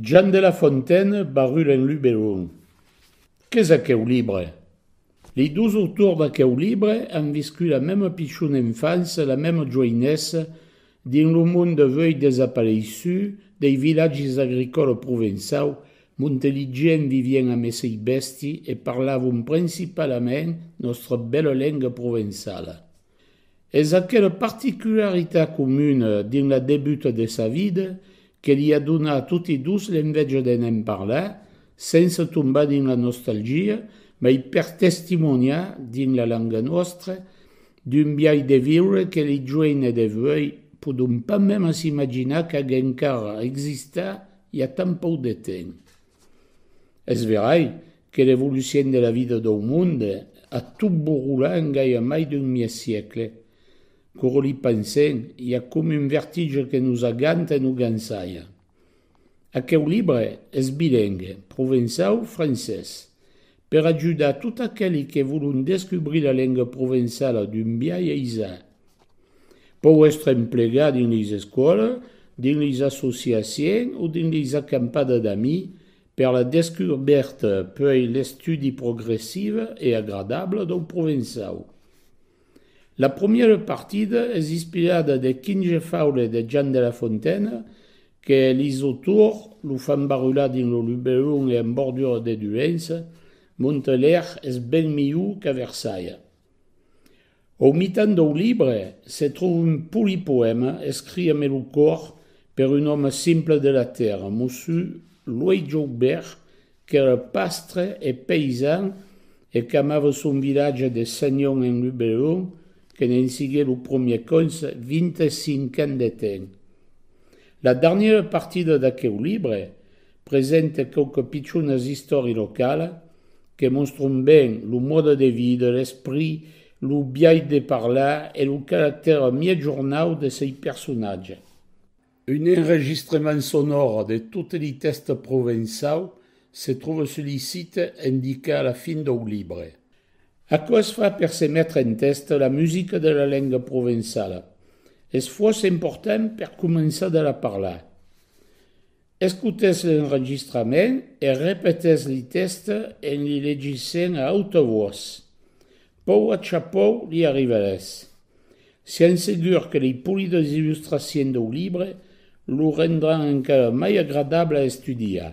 Jean de la Fontaine, Barrul en Luberon. Qu'es aqueu libre? Lei dos autors d'aqueu libre an viscut la mema pichona enfança e la mema joinessa dins lo mond avui desapareissut dei vilatges agricòla provençau monte li gents vivien amb esei bèsti e parlavon principalament nòstra bèla lenga provençala. Es aquela particularitat comuna dins la debuta de sa vida que li a donat toti dos l'enveja de ne'n parlar sense tombar dins la nostalgia mai per testimoniar dins la langa nòstra d'un biais de viure que li joenes d'evuei podon pas mema s'imaginar qu'ag encara existat i a tant pauc de temps. Es verai Que revolucion de la vida dau monde! A tot borrolar en gaia mai d'un mièg siecle. Quora li pensem, i a coma un vertige que nos aganta e nos gansaia. Aqueu libre es bilengue, provençau, francés. Per ajudar tot aqueli que volon descubrir la lenga provençala d'un biais aisat. Pòu èstre emplegat dins leis escòlas, dins leis associaciens o dins leis acampada d'amis Per la descubèrta puèi l'estudi progressive e agradable dau Provençau. La promièra partida es ispirada de quinge faule de Jan de la Fontaine que lis autors lo fan barular dins lo Luberon e en bordura de Dulenç, Montalèr es ben miu qu'a Versalha. Au mitan dau libre se tròu un poli poèma escrit a melocòr per un òme simple de la tèrra, Mossu Luei Joubèrt, qu'èra pastre e paisan e qu'amava son vilatge de Senhon en Luberon, que ne'n sigué lo promier cònseh 25 ans de temps. La darnièra partida d'aqueu libre Presente quauque pichonas istòria locala que mostron ben lo mòde de vida, l'esprit, lo biais de parlar e lo caractèr miègjornau de sei personatge. Un enregistrement sonòre de tot li tèxte provençau se tròve sus li site endicat a la fin dau libre. Aquò es fa per se metre en tèxte la musica de la lenga provençala. Es fòrça important per començar de la parlar. Escoutètz l'enregistrament e repetètz li tèxtes en li legissent a auta votz. Pòu a chapòu li arriberetz. Sián segur que li polidas illustraciens dau libre lo rendràn encara mai agradable a estudiar.